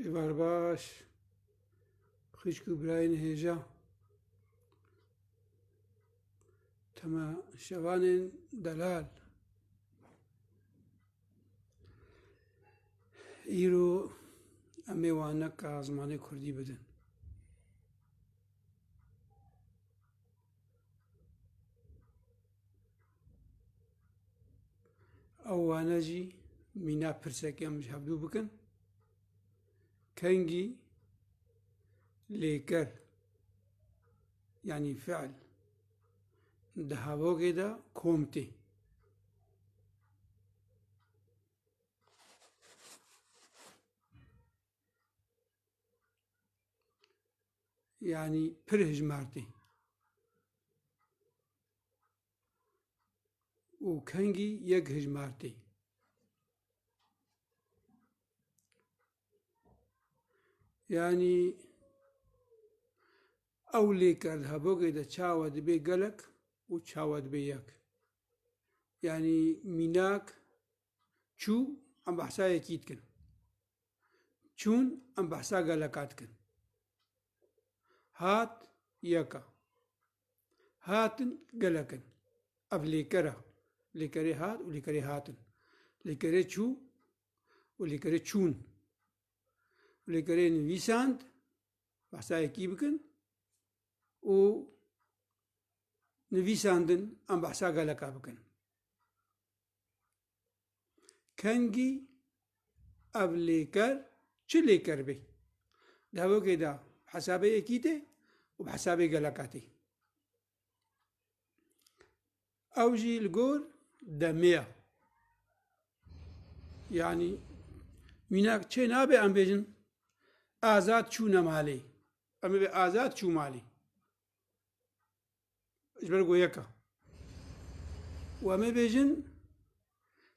Êvar baş. Xişk û birayên hêja. Tema şevanên delal. Îro em ê wan neka zimanê Kurdî bidin. Ew wane jî mîna pirsek em ji hevdû bikin. Kengî lêker yanî fiil di hevogê de kom tê. yanî pir hijmartê. û kengî yek hijmartê. Yanî ew lêker di hebogê de çawa dibê gelek û çawa dibê yek. Yanî mînak Çû em behsa yekî dikin. Çûn em behsa geleka dikin. Hat yeka. Hatin gelekin. Ev lêkera. Lêkerê hat û lêkerê hatin. Lêkerê çû û lêkerê çûn. Lêkerê nivîsand behsa yekî bikin û nivîsandin em behsa geleka bikin. Kengî ev lêker çi lêker bê? Di hevokê de bi hesabê yekî tê û bi hesabê geleka tê. Ew jî li gor demê ye. Yanî mînak çê nabe em bêjin azad çûne malê. Em ê bê azad çû malê. ji ber ku yeka û em ê bêjin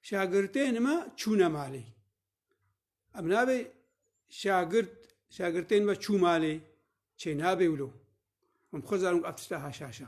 şagirtên me çûne malê. Em nabê şagirt şagirtên me çû malê çê nabê wilo. Em xwe zanim ev tişta haşaşa.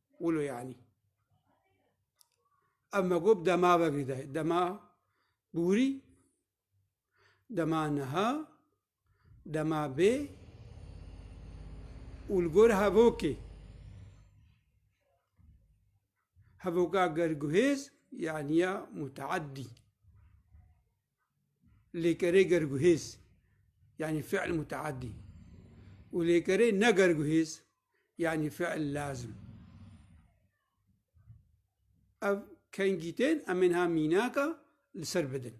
Wilo yanî. Ev me got dema vegî de. Dema bûrî, dema niha, dema bê û li gor hevokê. Hevoka gerguhêz yanî ya muteedî. Lêkerê gerguhêz yanî fiil muteedî û lêkerê negerguhêz yanî fiil lazim. Ev kengîtên em ên ha mînaka li ser bidin.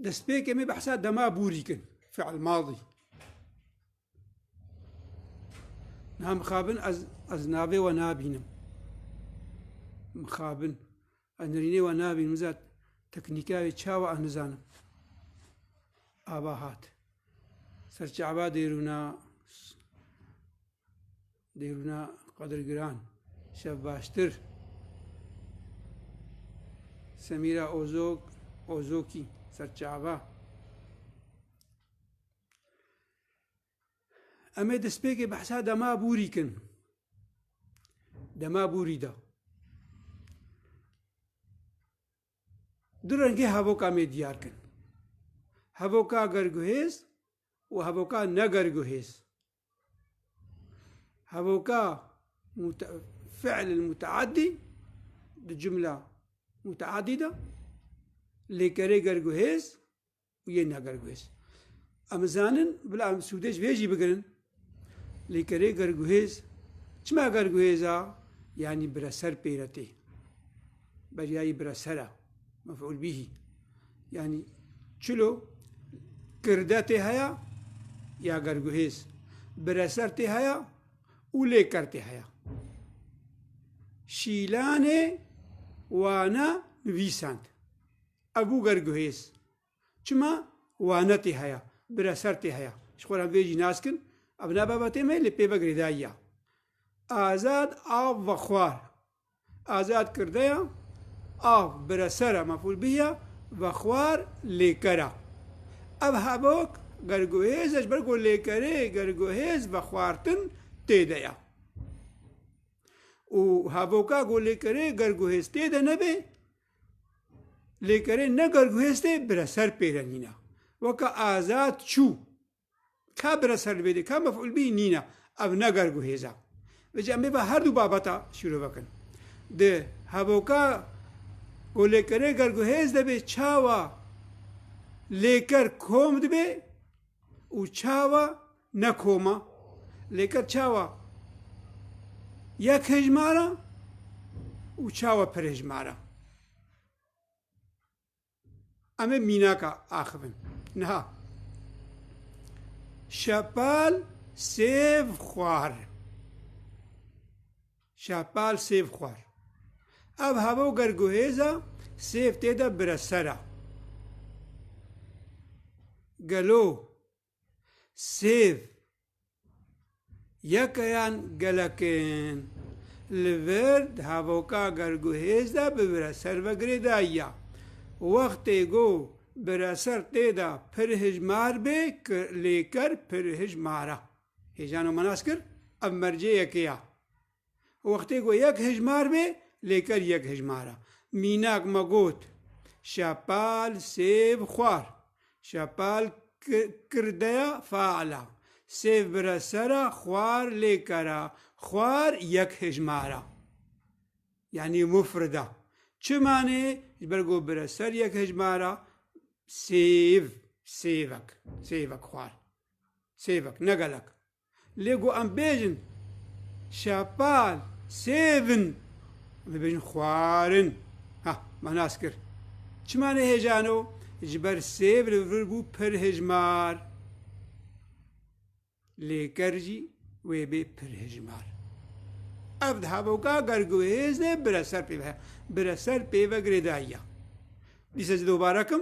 Destpêkê me behsa dema bûrî kin fiil madî. Niha mixabin ez ez navê we nabînim. Mixabin Ez nirînê we nabînim zat teknîka wê çawa ez nizanim. Ava hat. Ser çaba dêrûna dêrûna qedirgiran şev baştir. Semîra Ozok Ozokî ser çaba. Em ê destpêkê behsa dema bûrî kin. Dema bûrî da. Du rengê hevoka mê diyar kin. Hevoka gerguhêz û hevoka negerguhêz. Hevoka fi'l muteadî di cimla muteadî de lêkerê gerguhêz Yên negerguhêz. Em zanin bila em sûdê ji vê jî bigirin. Lê kerê gerguhêz çima gerguhêza yanî bireser pêre tê. Beryayî biresera mef'ul bîhî. Yanî çilo kirde tê heya ya gerguhêz. Bireser tê heya û lêker tê heya. Şîlanê wana nivîsand. A Google guhêz çima wane tê heya, bira ser tê heya, ji xwe re vê jî nas kin, ev ne babetê me lê pê ve girêdayî ya. Azad av vexwar Azad kirdeya av bira ser e mefûl bih ya, vexwar lêker e. Ev hevok gerguhêz e ji ber ku lêkerê gerguhêz vexwartin tê de ye. Û hevoka ku lêkerê gerguhêz tê de nebe Lêkerê ne garguhêstê bire ser pêre nîna. Weke azad çû ka bire ser li bêdê ka mef'ul bî nîna. Ev ne garguhêza. Veci em bêva her du babeta şîro vekin. Di hevoka ku lêkerê garguhêz debê çawa lêker kom dibê û çawa Ne koma, lêker çawa yek hejmara û çawa pir hejmara. Em ê mînaka axivin. Niha şepal sêv xwar. Şepal sêv xwar. Ev hava û ger guhêza sêv tê de bire ser a. Gelo Sêv yekeyan gelek in li vir di hevoka gerguhêz de bi bireser ve girê dayiya. Wextê ku bireser tê de pir hijmar bê lêker pir hijmar e. Hêjano me nas kir ev mercê yekê ya. Wextê ku yek hejmar bê, lê ker yek hejmar e. Mînak me got, Şepal, sêv, xwar. Şepal kirdeya feal a. Sêv bire ser a, xwar lê ker a. Xwar yek hejmar a. Yanî mufrid a. Çi manê? Ji ber ku bire ser yek hejmar a, sêv, sêvek, sêvek xwar. Sêvek, ne gelek. Lê ku em bêjin şepal, sêv in, em dê bêjin xwar in. Ha, me nas kir. Çima nehêjano? Ji ber sêv li vir bû pir hejmar. Lê ker jî wê bê pir hejmar. Ev diha boka ger guhêzê bire ser pê ve. Bire ser pê ve girêdayiya. Dîsa ji dobare kim.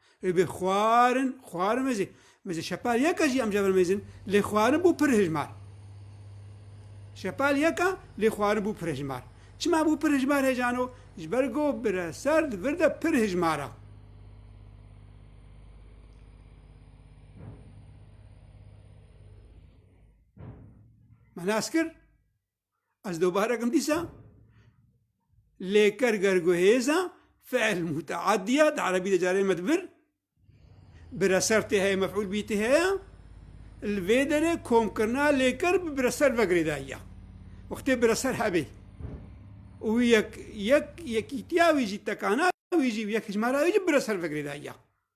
Ew bê xwarin, xwarin me jî, me jî şepal yeka jî em cevirmêzin, lê xwarin bû pir hijmar. Şepal yeka, lê xwarin bû pir hijmar. Çima bû pir hijmar hê cano? Ji ber ku bire serd vir de pir hijmar e. Me nas kir? Ez dobarekim dîsa lêker gerguhêza fi'l muta'addiya di erebî de carê me dibir bi reser tê heye mef'ul bî tê heye li vê derê komkirina lêker bi bireser vegirê dayiya wextê bireser hebê û yek yek yekîtiya wî jî tekana wî jî yek hicmara wî jî bireser vegirê dayiya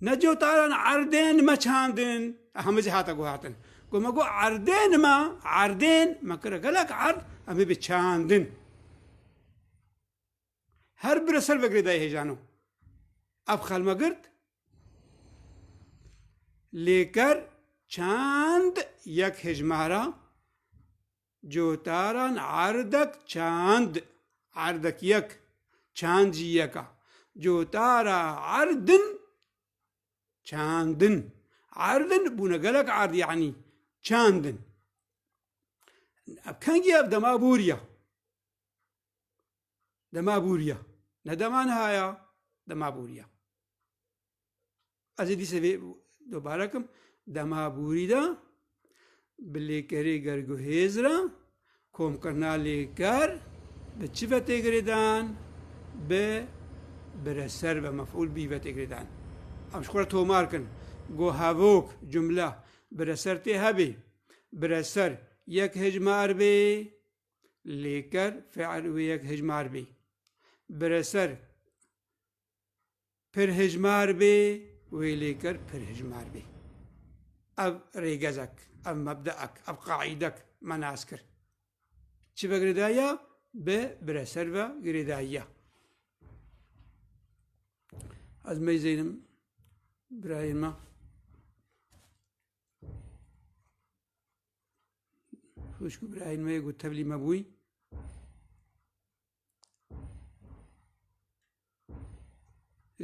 Neco taran erdên me çandin. Eha me jî hate guhertin. Got me got erdên me, erdên me kire gelek erd em ê bi çandin. Her bire ser vegirê dayê hêjano. Ev xelme girt. Lêker çand yek hejmara Cotaran erdek çand, erdek yek, çand jî yek a. Cotara erdin, çandin. Erdin bûne gelek erd yanî çandin. Ev kengî ev dema bûr ya. Dema bûr ya. Ne dema niha ya, dema bûr ya. Ez ê dîsê vê dobare kim dema bûrî de bi lêkerê gerguhêz re komkirina lêker bi çi ve têgirê dan bi bireser ve mefûl bî ve têgirê dan ev ji xwe re tomar kin got hevok cumle bireser tê hebê bireser yek hejmar bê lêker fiil wê yek hejmar bê bireser pir hejmar bê û ê lêker pir hejmar bê. Ev rêgezek, ev mebdeek, ev qaîdek me nas kir. Çi vegirêdayiya bi bireser ve girêdayiya. Ez meyzeynim birayên me. Xuşk û birayên me yê ku tevlî me bûy.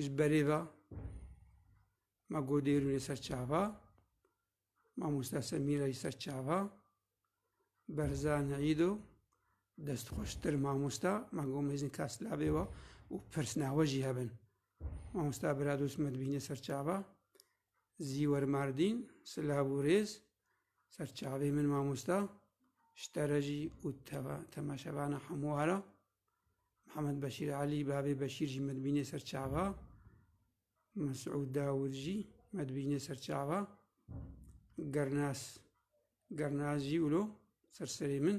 ji berê ve me got dêrûnê ser çava mamosta Semîra jî ser çava Berzan Îdo destxweştir mamosta me got mêzin Kaslavê ve û pirsna we jî hebin mamosta Biradost me dibîne ser çava Zîwer Mardîn, silav û rêz, ser çavê min mamosta, ji te re jî û temaşevana hemû wa re. Mihemed Beşîr Elî, bavê Beşîr jî me dibînê ser çava. Mesûd Dawûd jî me dibînê ser çava. Gernas, Gernas jî wilo ser serê min.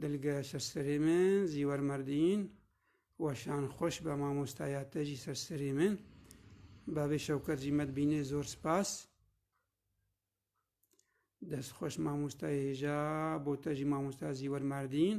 Dilge ser serê min Zîwer Merdîn. Weşan xweş be mamosteya te jî ser serê min. Bavê Şewket jî me dibînê zor spas. Dest xweş mamosteyê hêja bo te jî mamosteya Zîwer Merdîn.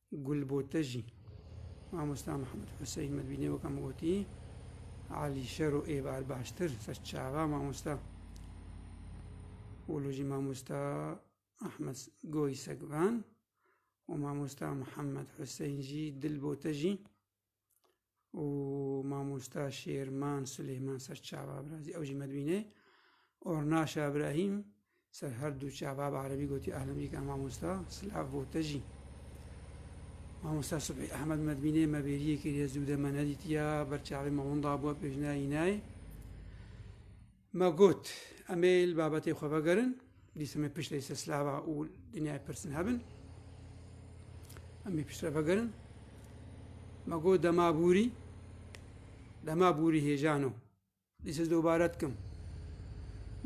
Gulbote jî mamosta Mihemed Huseyîn Medbînê weka min gotî alîşer û êvar baştir ser çaxa mamosta û lo jî mamosta Ahmed Goy Segvan û mamosta Mihemed Huseyîn jî Dilbote jî û mamosta Şêrman Silêman ser çava birazî ew jî me dibîne. Ornaşa Ibrahîm ser her du çava bi erebî gotî ehlemcî ke mamosta silav bo te jî. Mamosta Subhî Ehmed me dibîne me bêriyê kiriye zû de me nedîtiya ber çavê me winda bûye pêjina înayê. Me got em ê li babetê xwe vegerin, dîsa me pişt lê silava û dinyayê pirsin hebin. Em ê piştre vegerin. Me got dema bûrî, dema bûrî hêjano. Dîsa dobare dikim.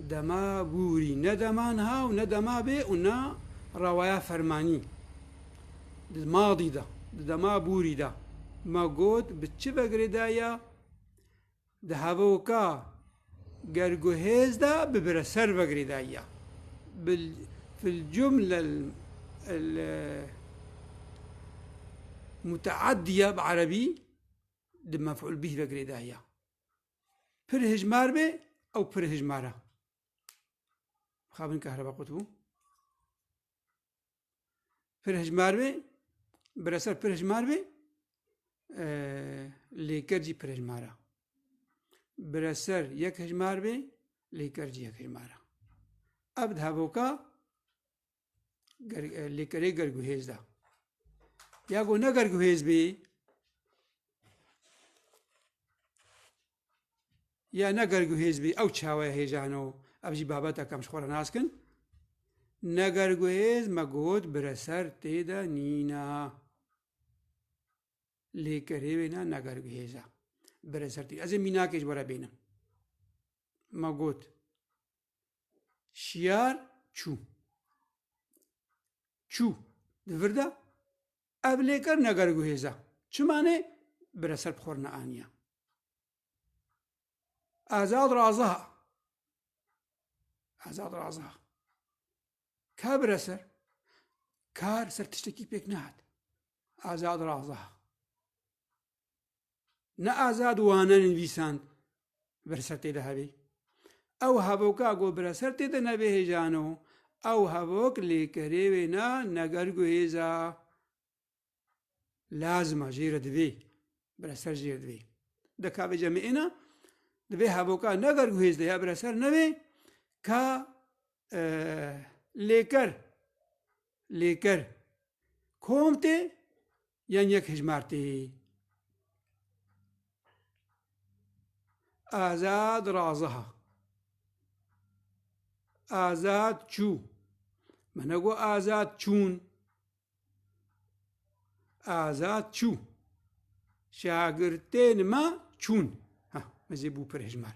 Dema bûrî ne dema niha û ne dema bê û ne rawaya fermanî. Di madî de, di dema bûrî de me got bi çi vegirê de ya Di hevoka gerguhêz de bi bireser ve girêdayiya filcumle muteeddiye bi erebî di mef'ul bîh ve girêdayiya pir hijmar bê ew pir hijmar e. Mixabin kehrebaqut bû. Pirhejmar bê, bireser pirhejmar bê, lêker jî pirhejmar e. Bireser yek hejmar bê, lêker jî yek hejmar e. Ev di hevoka lêkerê gerguhêz de. Ya ku ne gerguhêz bê, ya ne ger guhêz bî ew çawe hêjano ev jî babeteke em ji xwe re nas kin ne ger guhêz me got bireser tê de nîna lê kerê wê ne ne ger guhêz e bireser tê ez ê mînakê ji were bênim me got şiyar çû çû di vir de Ev lêker ne gerek û hêz e. Çima ne? Bire ser bi xwe re neaniye. Azad raziha. Azad raziha. Ka bire ser. Kar ser tiştekî pêk nehat. Azad raziha. Ne azad wane nivîsand bir ser tê de hebî. Ew hevoka ku bir ser tê de nebê hêjano, ew hevok lê kerê wê na neger ku hêza lazima jê re divê, bir ser jê re divê. Di ka vê cemê êna divê hevoka neger ku hêz de ya bir ser nevê ka lêker lêker kom tê yên yek hicmartî. Azad raziha. Azad çû. Me negot azad çûn. Azad çû. Şagirtên me çûn. Ha, me zê bû pir hijmar.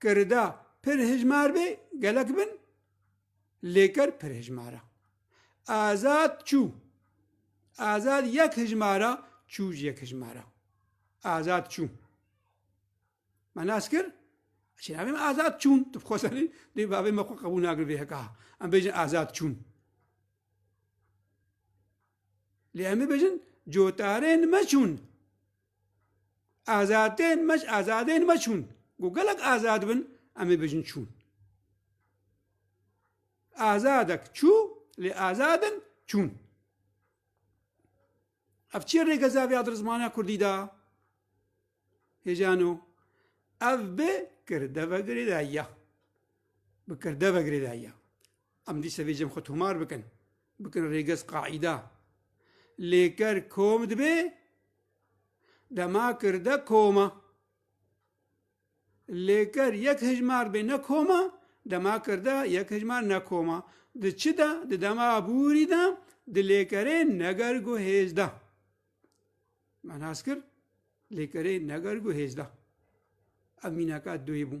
Kirida pir hijmar bê gelek bin, lêker pir hijmar e. Azad çû. Azad yek hijmar e, çû jî yek hijmar e. Azad çû. Me nas kir, çî navê me azad çûn. Tu xwe serî, dê bavê me xwe qebûl nakin vê heka. Em bêjin azad çûn. Lê em bêjin cotarên me çûn. Azadên me ji azadên me çûn. Ku gelek azad bin em ê bijin çûn. Azadek çû lê azadin çûn. Ev çi rêgeza vê dir zimana Kurdî da? Hêjano. Ev bi kirdeve girêdayiya. Bi kirdeve girêdayiya. Em dîsa vê cem xwe tomar bikin, bikin rêgez qaîda. Lê ker kom dibe, dema kirde koma. Lê ker yek hejmar bê ne koma, dema kirde yek hejmar ne koma. Di çi de, di dema bûrî de, di lêkerê neger gu hêzda. Me nas kir, lêkerê neger gu hêzda. Ev mînaka duyê bû.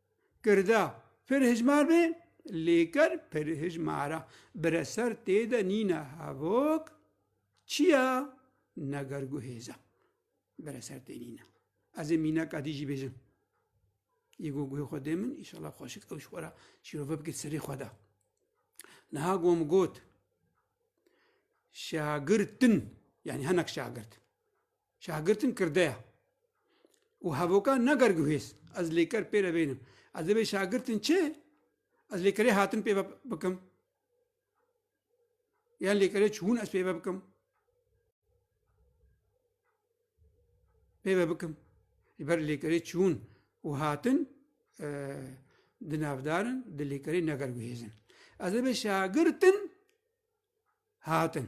Kirda, pir hijmar be, lêker pir hijmara. Bireser tê de nîne hevok, çiya, neger gu hêza. Bireser tê nîne. Ez ê mîneka dî jî bêjim. Yê gu guhê xwe dê min, îşala xweşik ew ji xwe ra şîrove bike serê xwe de. Niha gom got, şagirtin, yanî hinek şagirt. Şahgirtin kirde ye û hevoka nager guhêz. Ez lêker pê re bênim. Ez ê vê şahgirtin çi? Ez lêkerê hatin pê ve bikim? Yan lêkerê çûn ez pê ve bikim? Pê ve bikim. Ji ber lêkerê çûn û hatin e, di navdarin, di lêkerê neger guhêzin. Ez ê vê şahgirtin hatin.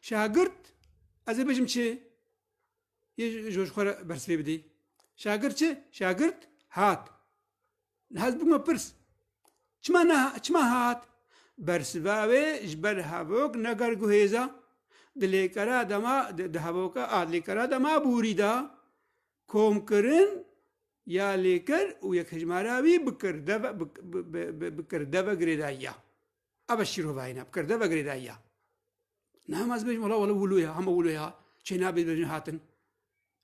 Şagirt ez ê bêjim çi? Yê ji xwe re bersivê bidî. Şagirt çi? Şagirt hat. Niha ez bûme pirs. Çima ne çima hat? Bersiva wê ji ber hevok neger guhêza. Di lêkera de ma di hevoka a lêkera de ma bûrî da komkirin ya lêker û yekhejmara wî bikir deve bikir deve girêdayiya. Ev e şîrovayîna bi kerde vegirêdayî ya. Nahim ez bêjim wala wala wilo ya hema wilo ya Çênabî bêjin hatin.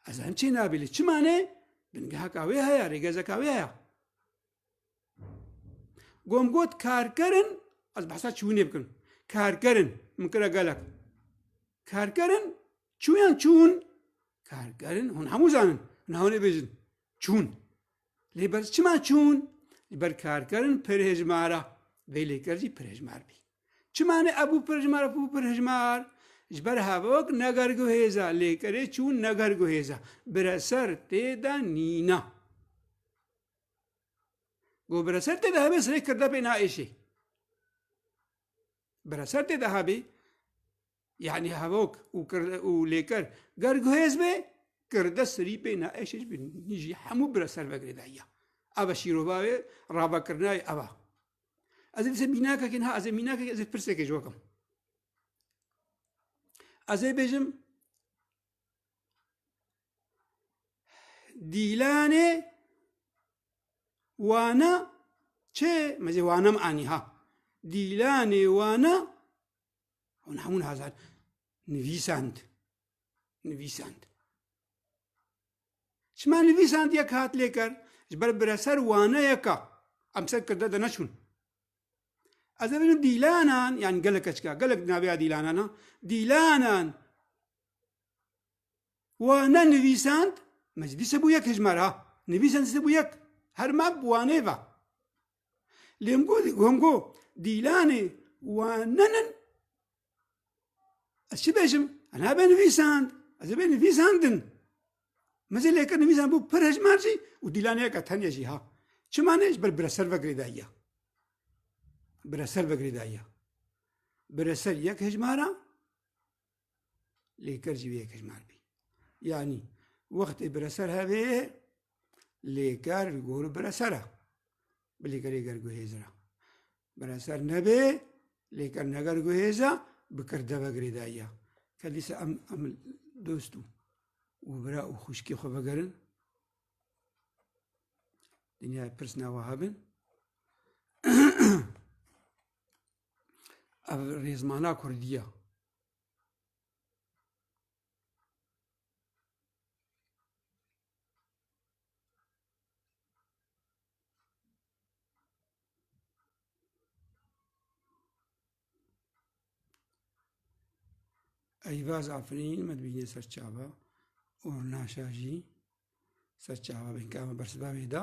Ez hem Çênabî li çi manê bingeheka wê heye rêgezeka wê heye. Gom got karkerin ez behsa çûnê bikin. Karkerin min kira gelek. Karkerin çûyan çûn karkerin hûn hemû zanin hûn hewlê bêjin çûn. Lê ber çima çûn? Li ber karkerin pirhejmara vê lêker jî pirhejmar bî. Çima ne ebû pirhejmar e bû pirhejmar? Ji ber hevok negerguhêza lêkerê çûn negerguhêza bireser tê de nîna. Go bireser tê de hevê sirê kirdepê naêşê. bi reser tê de hebî yanî hevok û û lêker ger guhêz bê kirde sirî pê ne eşê ji nî jî hemû bi reser vegirê dayiya eva şîrova wê ravekirina wê eva ez ê dise mînakekê niha ez ê mînakekê ez ê pirsekê ji we kim ez ê bêjim Dîlanê wana çê mezê wanam anî ha. Dîlanê wana hûn hemûn hazar nivîsand. Nivîsand. Çima nivîsand yek hat lêker ji ber bireser waneyeka em ser kirde de neçûn. Ez ê bilim dîlanan yan gelek keçika gelek navêya dîlanan ha dîlanan Wane nivîsand, me jî dîsa bû yek hejmar ha, nivîsand dîsa bû yek, her mab wanê va. Lê him got, him got, dîlanê wanen in, ez çi bêjim, ez nabe nivîsand, ez ê bê nivîsandin. Me jî lêkir nivîsand bû pir hejmar jî û dîlanê yeka tenya jî ha. Çima ne, ji ber bi re ser vegirê dayiya. Bi re ser vegirê dayiya. Bi re ser yek hejmar a, lê ker jî vê yekê nal bî. Yanî wextê bireser hevê ye lê ker li gorî bireser e. Bilî kerê ger guhêzir e. Bireser nebê lê ker ne ger guhêz e bi ker deve girêdayiya. Ker dîsa em em dost û bira û xwişkê xwe vegerin. Dinyayê pirs ne wiha bin. ev rêzmana Kurdiya. Eyvaz Afrin me dibînê ser çava û naşajî ser çava bin ka me bersivavê da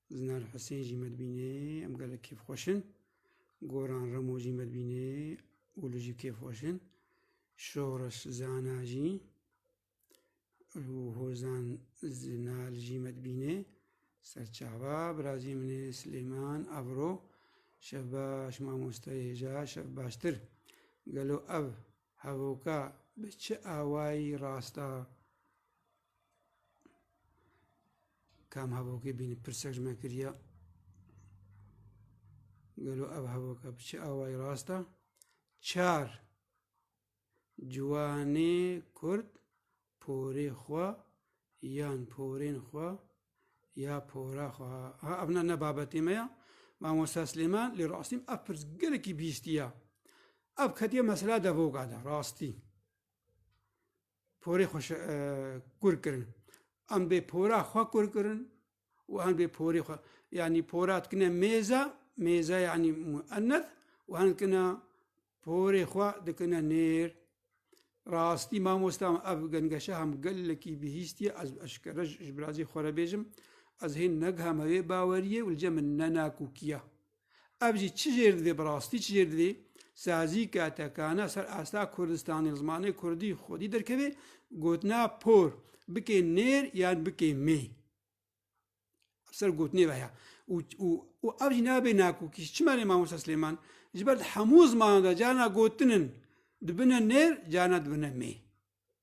Zinar Husên jî me dibînê, em gelek kêfxweş in. Goran Remo jî me dibînê û li jî kêfxweş in. Şoreş Zana jî û Hozan Zinal jî me dibînê. Serçava, birazê min ê Silêman, Avro, şev baş mamostayê hêja, şev baştir. Gelo ev hevoka bi çi awayî rast a? Kam hevokê bînî pirsek ji me kiriya gelo ev hevoka bi çi awayî rast e çar ciwanê kurd porê xwe yan porên xwe ya pora xwe ha ev ne ne babetê me ya mamosta Slêman lê rastîm ev pirs gelekî bîstiya ev ketiye mesela devoka de rastî porê xwe kûr kirin. Em bê pora xwe kûr kirin û em bê porê xwe yanî pora dikine mêza, mêza yanî mueneth û em dikine porê xwe dikine nêr. Rastî mamosta ev gengeşe hem gelekî bihîstiye ez eşkere ji birazê xwe re bêjim ez hê negiheme wê baweriyê û li cem min nenakokî ye. Ev jî çi jêr divê bi rastî çi jêr divê sazîka tekana ser asta Kurdistanê li zimanê Kurdî xwedî derkevê gotina por bikê nêr yan bikê mê. Ser gotinê ve ya û ev jî nabê nakokî çima lê mamosta Silêman ji ber di hemû zimanan de carna gotinin dibine nêr carna dibine mê.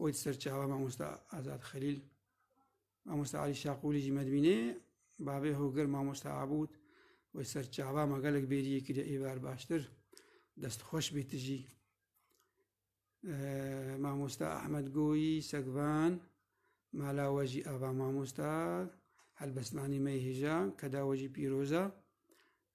û di ser çawa mamosta Azad Xelîl mamosta Alî Şaqûlî jî me dibînê bavê hogir mamosta Abûd û di ser çawa me gelek bêriyê kiriye ê ber baştir dest xweş bê tu jî mamosta Ahmed Goyî Segvan mala we jî ava mamosta helbestnanî me hêja keda we jî pîroza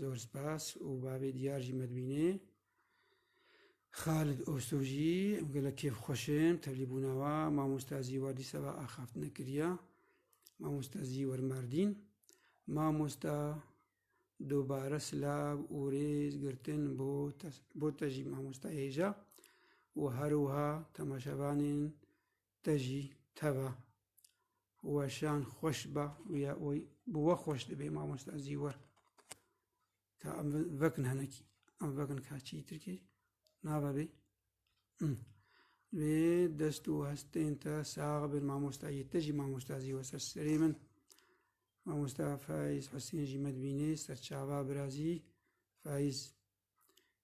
Zor spas û bavê diyar jî me dibînê. Xalid Ostoh jî gelek kêfxweş in bi tevlîbûna we. Mamosta Zî war dîsa ve axaftina kiriye. Mamosta Zî wer Mardîn. Mamosta dubare silav û rêz girtin bo te bo te jî mamosta hêja û her wiha temaşevanên te jî teva weşan xweş ba û ya oy bi we xweş dibê mamosta zîwe ka em vekin henekî em vekin ka çî tirkê nava bê Ve dest û hestên te sağ bin mamosta yê te jî mamosta zî we ser serê min. Mamosta Faiz Husên jî me dibînê serçava birazî Faiz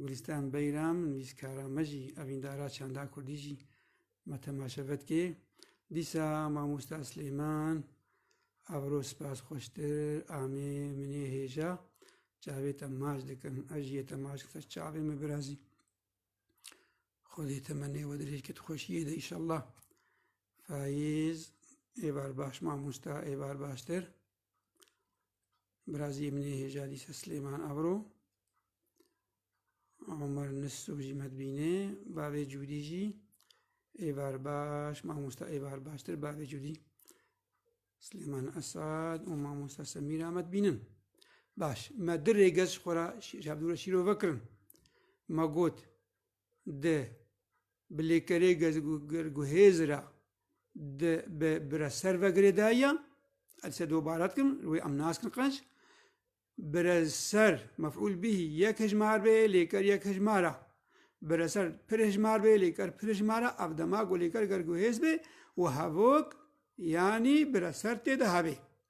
Gulîstan Beyram, nivîskara me jî, evîndara çanda kurdî jî me temaşe vedikê. Dîsa mamosta Silêman, evro spas xweştir, amê minê hêja, çavê te maç dikim, ez jî yê te maç dikim, ser çavê me birazî. Xwedê temenê we dirêj ke tu xweşiyê de îşallah. Fayîz, êvar baş mamosta, êvar baştir. Biraziyê min ê hêja dîsa Silêman Avro, Omer Nisû jî me dibîne, bavê Cûdî jî êvar baş, mamosta êvar baştir bavê Cûdî. Silêman Esad û mamosta Semîra me dibînin. Baş, me di rêgez ji xwe re ji Abdûra Şîrove kirin. Me got, di bi lêkerê gezgir guhêz re di bi bire ser ve girêdayiya, ez dise dobare dikim, li wê em naskin qenc, bire ser, mef'ûl bîhî, yek hejmar bê, lêker yek hejmar e, bire ser pir hejmar bê, lêker pir hejmar e, ev dema ku lêker gerguhêz bê û hevok yanî bire ser tê de hebê.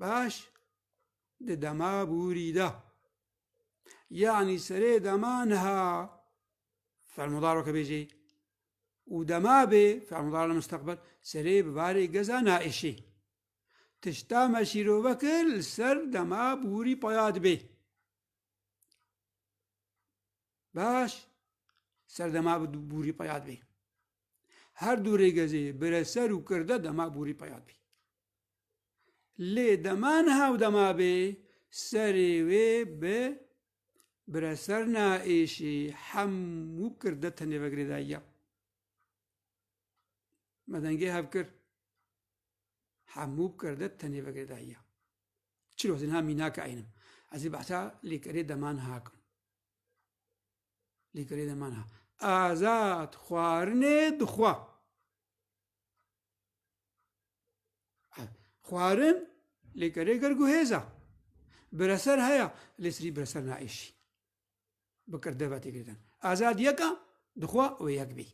Baş di dema bûrî de yanî serê dema niha felmudar weke bêjê û dema bê felmudar li musteqbel serê bi barê geza naêşê. Tişta me şîrove kir li ser dema bûrî paya dibê. Baş ser dema bûrî paya dibê. Her du rêgezê bireser û kirde dema bûrî paya dibê. Lê dema niha û dema bê serê wê bi bireser na êşî hemû kir de tenê ve girêdayiya. Me dengê hev kir. Hemû kir de tenê ve girêdayiya. Çil wezî niha mînake eynim. Ez ê behsa lêkerê dema niha kim. Lêkerê dema niha. Azad xwarinê dixwa. Xwarin lê kerê ger guhêza. Bireser heya lê sirî bireser naêşî. Bikir deva têgirtin. Azad yeka dixwa wê yek bî.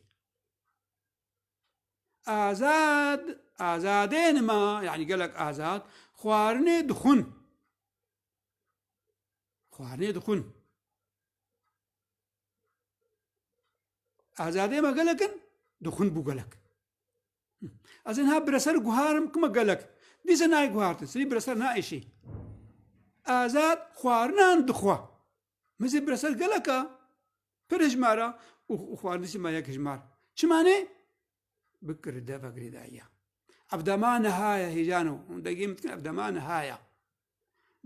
Azad azadên ma yanî gelek azad xwarinê dixwin. Xwarinê dixwin. Azadê me gelek in, dixwin bû gelek. Ez ên ha bireser guharim kima gelek. Dîse nayê guhartin, sirî bireser naêşî. Azad xwarinan dixwa. Min zê bireser gelek a, pir hijmar a û xwarindîsî me yek hijmar. Çimanê? Bikir deva girêdayiya. Evdema nihaya hêjano. Hûn degê min dikin evdema nihaya.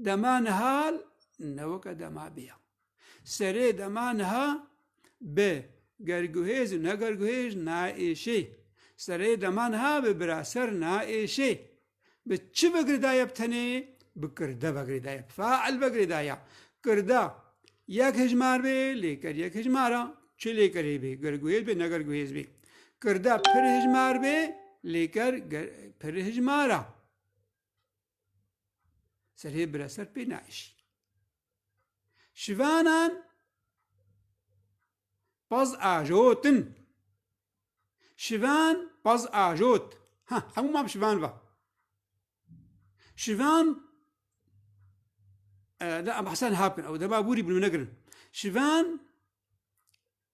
Dema niha ne weke dema bê ya. Serê dema niha bi gerguhêz û ne gerguhêz naêşê. Serê dema niha bi biraser naêşê. Bi çi vegirêdaye bi tenê? Bi kirde vegirêdaye, fail vegirêdaye. Kirda yek hejmar bê, lêker yek hejmar a. Çi lêkerê bê? Gerguhêz bê ne gerguhêz bê. Kirda pir hejmar bê, lêker pir hejmar a. Serê bira ser pê naişî. Şivanan paz ajotin. Şivan paz ajot. Ha, hemû mam şivan va. Şivan e, da em hesen hapkin ew dema bûrî bûn negirin. Şivan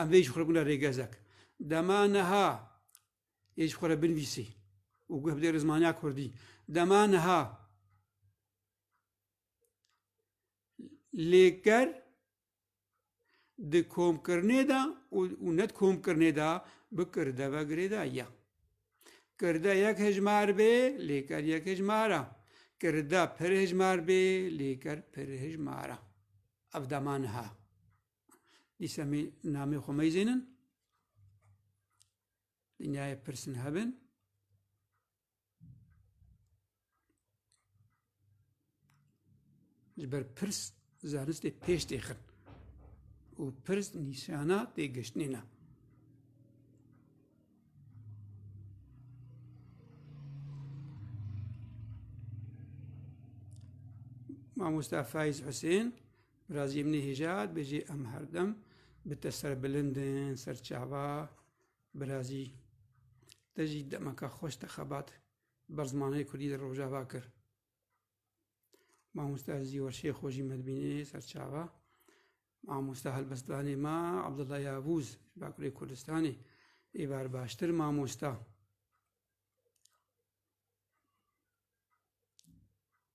Em vê jî xwe re bûne rêgezek. Dema niha yê jî xwe re binivîsî û guh bidê rizmaniya kurdî. Dema niha lêker di komkirinê de û ne di komkirinê de bi kirde ve girêdayî. Kirde yek hejmar bê lêker yek hejmar e. Kirde pir hejmar bê lêker pir hejmar e. Ev dema niha. Dîsa mê namê xwe meyzênin. Dinyayê pirsin hebin. Ji ber pirs zanistê pêş têxin. û pirs nîşana têgiştinê ne. Mamosta Faiz Hüseyin Birazî min Nihêjad bê jê em her dem bi te serbilind in, serçava, birazî te jî demeke xweş te xebat ber zimanê Kurdî li Rojava kir. Mamoste Ezî Werşê xwe jî me dibînê serçava. Mamoste helbestdanê me Abdullah Yavûz ji Bakurê Kurdistanê ê ber baştir mamosta.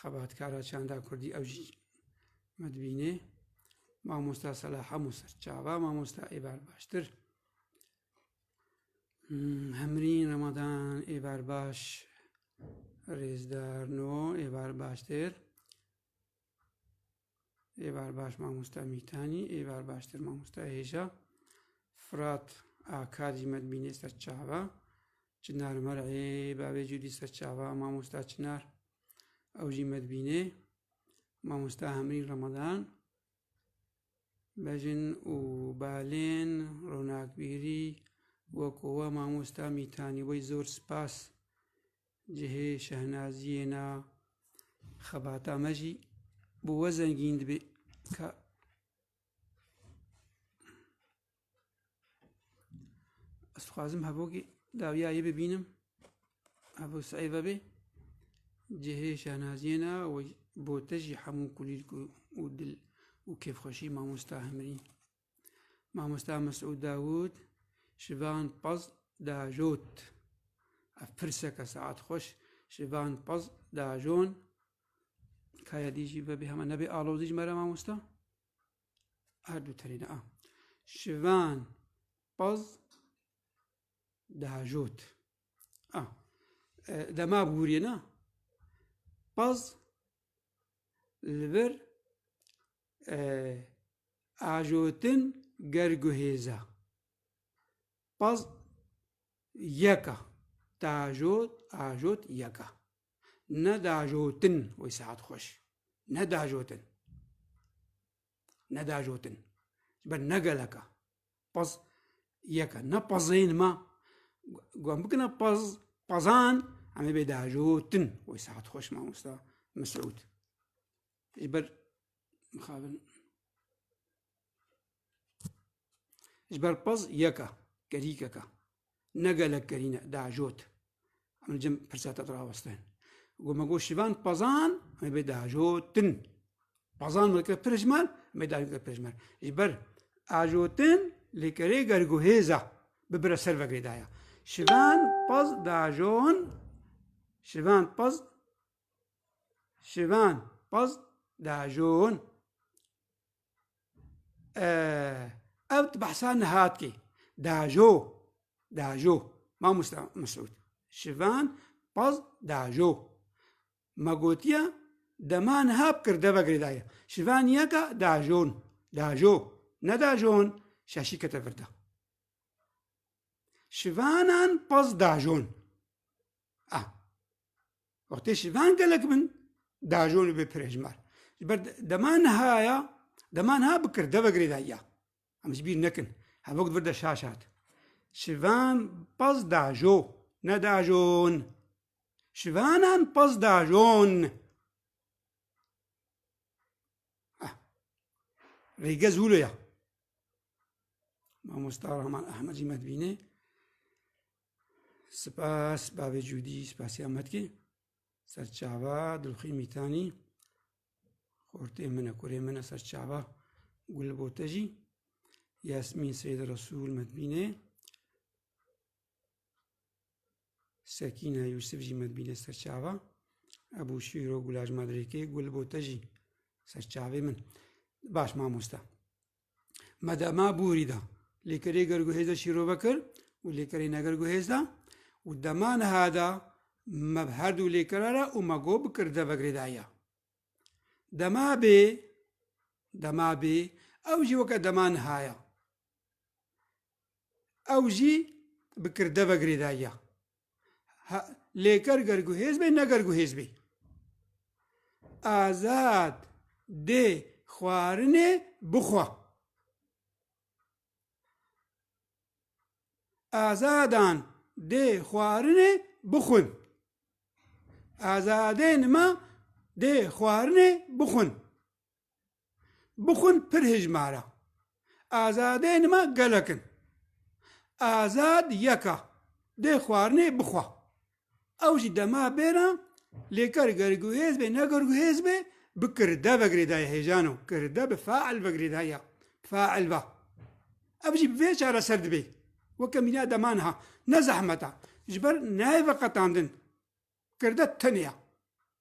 xebatkara çanda Kurdî ew jî me dibînê mamosta sala hemû ser çava mamosta êbar baştir hmm, hemrîn remadan êbar baş rêzdar no êbar baştir ê berbaş mamosta Mîtanî, ê berbaştir mamosta Hêja, Firat a Kadî me dibînê ser çava, Çinar Mer ê bavê Cudî ser çava mamosta Çinar ew jî me dibînê, mamosta Hemrîn Ramadan, bejin û balên ronakbîrî wek we mamosta Mîtanî wê zor spas Cihê şehnaziyê na xebata me jî bi we zengîn dibê ka Ez dixwazim hevokê dawiya yê bibînim hevû sey vebê cihê şehnaziyê na û bo te jî hemû kulîlk û dil û kêfxweşî mamosta himrîn. Mamosta Mesûd Dawûd ji van pez diajot. Ev pirseke saet xweş ji van pez diajon. Kaya dî jî vebê hema nebê alozî ji me re mamosta. Her du tenê ne a. Ji van pez diajot. A. Dema bûriyê ne. Pez li vir Ajotin ger guhêza paz yeka dajot ajot yeka ne dajotin wê saet xweş ne dajotin ne dajotin ji ber ne geleka paz yeka ne pazên ma wan bikina paz pazan em ê bê dajotin wê saet xweş mamosta Mesûd. Ji ber mixabin. Ji ber pez yeka, gerîkeka. Ne gelek gerîne, deajot. Em cem pirsa te dirawestin. Got me got şivan pezan, em bê deajotin. Pezan me kir pirjmer, em bê deajotin pirjmer. Ji ber ajotin lê kerê gerguhêza bibire ser vegirê daya. Şivan pez deajon, şivan pez Şivan pez diajon. Ev di behsa nihatkê diajo diajo mamosta Mesûd şivan pez diajo me gotiye dema niha bi kird ve girêdaye şivan yeka diajon diajo ne diajon şaşî kete vir de. Şivanan pez diajon. Wextê şivan gelek bin dajon û bêpirêjmar. Ji ber dema niha ya, dema niha bikir deve girê de ya. Em ji bîr nekin. Hevok di vir de şaş hat. Şivan pez dajo, ne dajon. Şivanan pez dajon. Ah. Rêge zûlo ya. Mamosta Rahman Ahmedî me dibînê. Spas bavê cûdî spasî ametkî serçava dilxî mîtanî xortê min e kurê min e serçava gul bo te jî Yasmîn Seyda Resûl medbînê Sekîna Yûsif jî medbînê serçava Ebû Şîro Gulaj Madrêkê gul bo te jî serçavê min baş mamosta me de ma bûrî da lêkerê ger guhêz de şîrove kir û lêkerê neger guhêz da û dema niha da me bi her dû lêkera re û me got bikir devegirê daye. Dema bê dema bê ew jî weke dema nihaya. ew jî bi kirde ve girêdayiya. Lê ger ger guhêz bê ne ger guhêz bê. Azad dê xwarinê bixwe. Azadan dê xwarinê bixwin. Azadên me dê xwarinê bixwin. bixwin pir hijmara. Azadên me gelek in. Azad yeka dê xwarinê bixwa. Ew jî dema bêra lê ker gerguhêz bê ne gerguhêz bê bi kirde ve girêdayî hêjano kirde bi fail ve girêdayî ya fail va. Ev jî bi vê çareser dibê. Weke mîna dema niha ne zehmet a. Ji ber nayê veqetandin kirde tenê ya.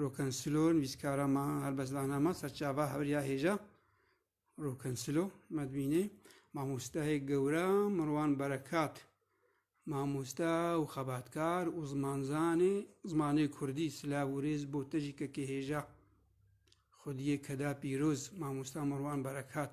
Rokansilo nivîskara ma helbestdana ma serçava hewriya hêja Rokansilo me dibînê mamosteyê gewre Mirwan Berekat mamoste û xebatkar û zimanzanê zimanê Kurdî silav û rêz bo te jî kekê hêja xwediyê keda pîroz mamoste Mirwan Berekat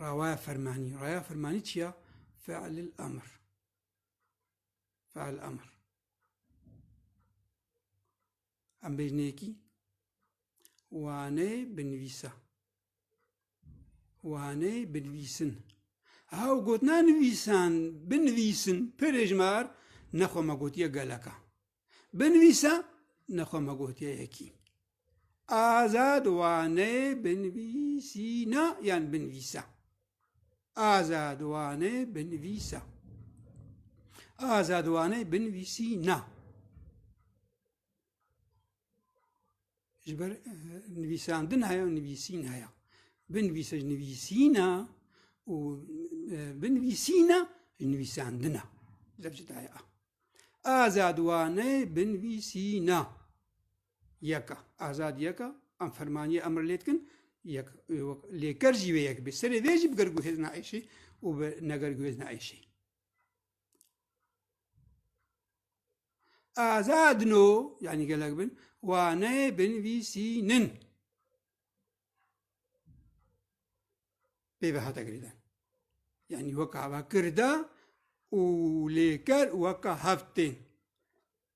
Rawaya fermanî. Raya fermanî çi ya? Fe'lil emr. Fe'l emr. Em bêjneyekî waneyê binivîsa. Waneyê binivîsin. Ew gotina nivîsan, binivîsin, pirêjmar nexwe me gotiye geleka. Binivîsa nexwe me gotiye yekî. Azad wane binivîsîna yan binivîsa. Azad wane binivîsa. Azad wane binivîsîna. Ji ber nivîsandin heye nivîsîn heye. Binivîse ji nivîsîna û binivîsîna ji nivîsandina. Zef ji daya. Azadwane binivîsîna. Yeka. Azad yeka. Em fermaniye emr lê dikin. Yek lêker jî vê yek bê. Serê vê jî bi gergûhêzna êşî û bi negergûhêzna êşî. Azad no yanî gelek bin wane binvîsînin pêve hate girîdan. Yanî weka va kirda û lêker weka hevtên.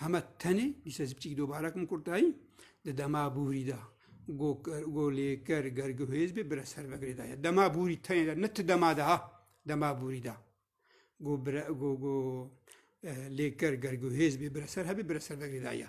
Hema tenê dîsa zî biçîk dobarek min kurtayî di dema bûrî da golêker gergihêz bê bire ser vegirê da ye. Dema bûrî tenê de ne ti dema de ha dema bûrî da. Go bire go go lêker gergihêz bê bire ser hebê bire ser vegirê da ye.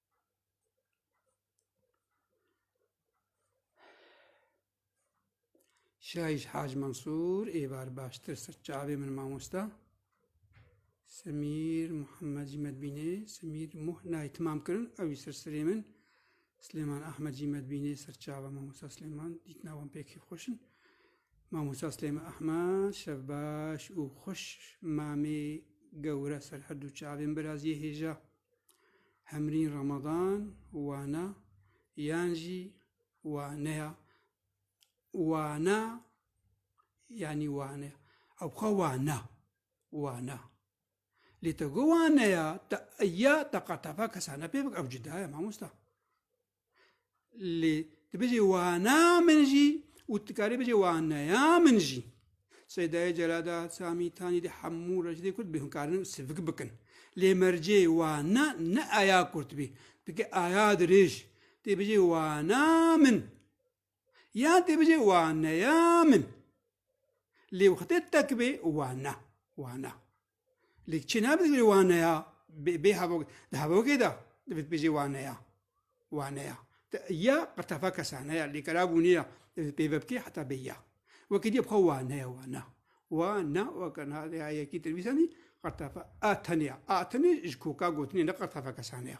Şahiş Hac Mansur êvar baştir ser çavê min mamosta. Semîr Muhammed jî medbînê, Semîr Muh nayê timam kirin ewî ser serê min. Slêman Ahmed jî medbînê ser çava mamosta Slêman dîtina wan pêkî xweş in. Mamosta Slêman Ahmed şev baş û xweş mamê gewre ser her du çavên biraziyê hêja. Hemrîn Ramadan wana yan jî waneya wana yanî wane ew xwe wana wana lê te got waneya te ya te qat tevek kesane pê bik ew cuda ye mamosta. lê tu bijî wana min jî û tu dikarî bijî waneya min jî Seydayê Celada Samî Tanî de hemû rejdê Kurd bê hûn karin sivik bikin lê mercê wana ne aya Kurd bî dike aya dirêj tê bijî wana min Yan tê bijê waneya min. Lê wextê te ki bê wana, wana. Lê kçê nabe tê bijê waneya, bê, bê hevok, di hevokê de divê bijê waneya, waneya. Te ya qirtefa kesane ya, lê kera bûnê ya, divê pêve bikê heta bê ya. Wekî dîya bixwe waneya, wana. Wana, weke na ya yekî te nivîsanî, qirtefa a tenê ya. A tenê ji koka gotinê ne qirtefa kesane ya.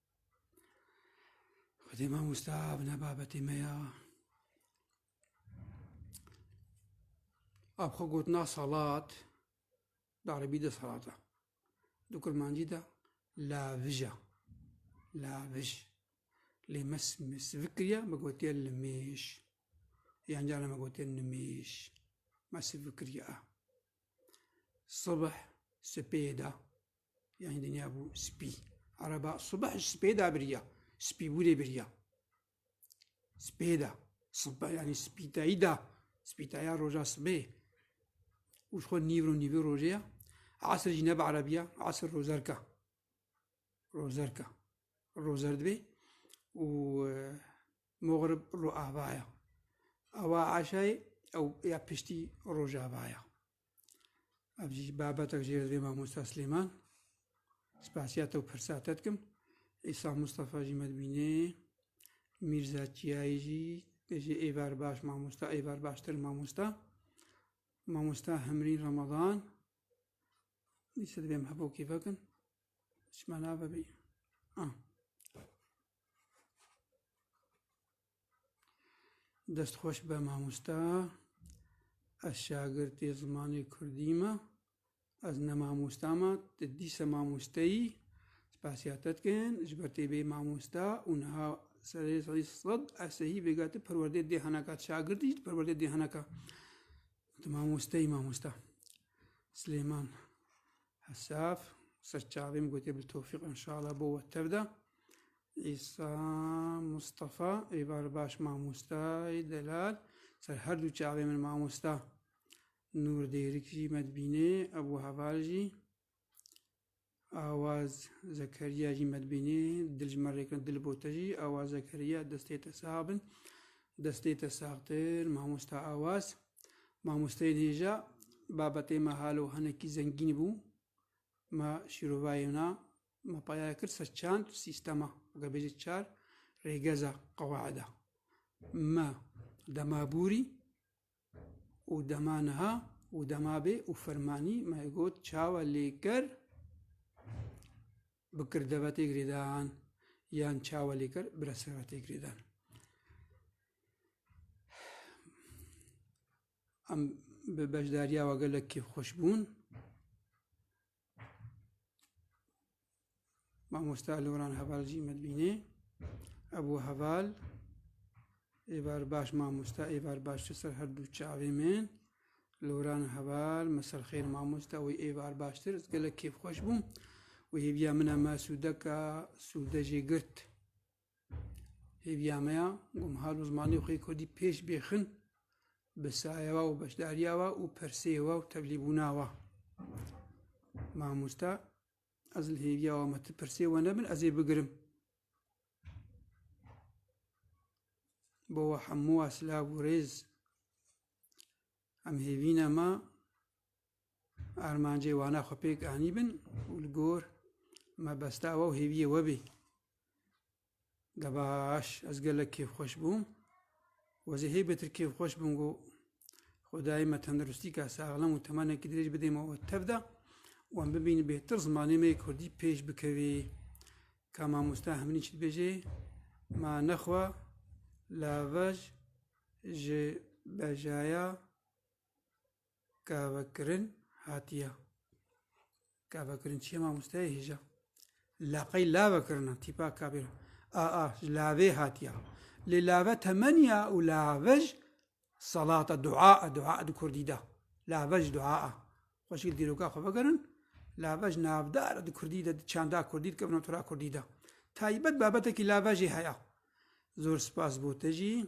Xwedê mamosta bi ne babetê me ya Ab xwe gotina salat di erebî de salat e. Di kurmancî de lavij e. Lavij. Lê me sivik kiriye me gotiye limêş. Yan carê me gotiye nimêş. Me sivik kiriye e. Sibih sipê de Ya hin dinya bû spî. Araba subah ji spê da biriya. Spî bûrê biriya. Spê da. Subah yanî spîtayî da. Spîtaya roja sibê. Û ji xwe nîvro nîvê rojê ya. Asir jî nebe erebiya. Asir rozerka. Rozerka. Rozer dibê. Û e, moxrib ro avaya. Awa aşayê ew ya piştî rojavaya. Ev jî babetek jê divê mamosta Slêman. Spasiya te û pirsa te dikim. Îsa Mustafa jî me dibînê. Mîrza Çiyayî jî te jî êvar baş mamosta, êvar baştir mamosta. Mamosta Hemrîn Ramadan. Dîsa divê em hebokê vekin. Çima navebî? Ah. Dest xweş be mamosta. Ez şagirtê zimanê Kurdî me. Ez ne mamosta me, tu dîsa mamoste yî. Spasiya te dikin ji ber tê bê mamosta û niha serê sedî sed ez sehî vêga tu perwerdê dê heneka. Tu şagirtî jî tu perwerdê dê heneka. Tu mamoste yî mamosta. Silêman Hesaf, serçavê min gotê Biltofîq inşallah bo we tev de. Îsa Mustafa, ê bar baş mamosta, ê delal, ser her du çavê min mamosta. Nur Dêrik jî me dibînê, Ebu Heval jî. Awaz Zekeriya jî me dibînê, dil ji me rêkin dil bo te jî. Awaz Zekeriya destê te sax bin. Destê te saxtir mamosta Awaz. Mamosteyên hêja babetê me halo hinekî zengîn bû. Me şîrovayê na Me payaya kir ser çend sîstema, weke bêje çar rêgeza qewaida. Me dema bûrî û dema niha û dema bê û fermanî me got çawa lêker bi kirdevetê girêdan yan çawa lêker bi resevetê girêdan. Em bi beşdariya we gelekî xweş bûn. Mamoste Aloran Heval jî me dibînê. Ev û heval êvar baş mamoste êvar baş ji ser her du çavê min. Loran heval me serxêr mamoste wî êvar baştir ez gelek kêfxweş bûm. Wî hêviya min e me sûdeka sûde jê girt. Hêviya me ya ku em hal û zimanê xwe yê Kurdî pêş bêxin bi saye we û beşdariya we û persê we û tevlîbûna we. Mamosta ez li hêviya we me ti persê we nebin ez ê bigirim. Bo we hemû we silav û rêz. Em hêvîna me Armancê wana xwe pêk anîbin û li gor mebesta we û hêviyê we bê. Gebaş, ez gelek kêfxweş bûm. Wezê hê betir kêfxweş bûm got, Xwedayê me tendirustîka saxlem û temenekî dirêj bidê me û tev de û em bibînin bêtir zimanê me yê Kurdî pêş bikevê. Ka mamosta hemînî çi dibêje? Ma nexwe lavej ji bejaya Kavekirin hatiye. Kavekirin çiye mamosteyê hêja. Laqey lave kirina tîpa kabêra. A a ji lavê hatiye. Lê lave temeniya û lave ji salata dua a dua di kurdî de. Lave ji dua a. Xweşik dîroka xwe vegerin. Lave ji navdar di kurdî de di çanda kurdî dikevin tora kurdî de. Taybet babetekî lave jî heya. Zor spas bo te jî.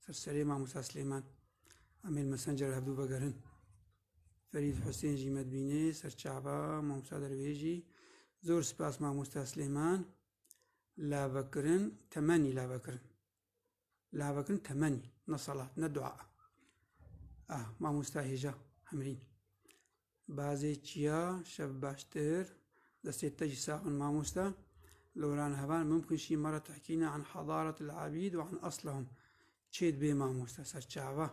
Ser serê Mamosta Silêman Emîr Mesencer hevdu vegerin. Ferîd Husên jî me dibînê, serçava, Mamosta Dervêjî. Zor spas Mamosta Silêman. Lavekirin, temenî lavekirin. Lavekirin temenî, ne salat, ne dua. Ah, Mamosta Hêja Hemrîn. Bazê çiya şev baştir. Destê te jî sax bin mamoste. Loran hevan mumkin şî mara tehkîna an hadaretil abîd û an aslahum. Çê dibê mamoste serçava.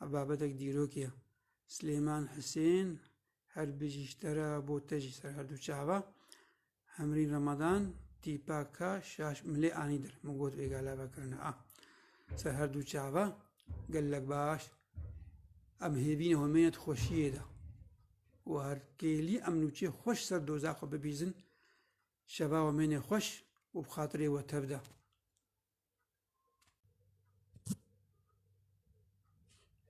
Ev babetek dîrokî ye. Silêman Hisên her bijî ji te re bo te jî ser her du çava. Hemrîn Ramadan, tîpa ka şaş milê anî dir. Min got vê gala vekirine a. Ser her du çava, gelek baş. Em hêvîne homêne di xweşiyê de. û her kêlî em nûçê xweş ser doza xwe bibîzin, şeva homêne xweş û bi xatirê we tev de.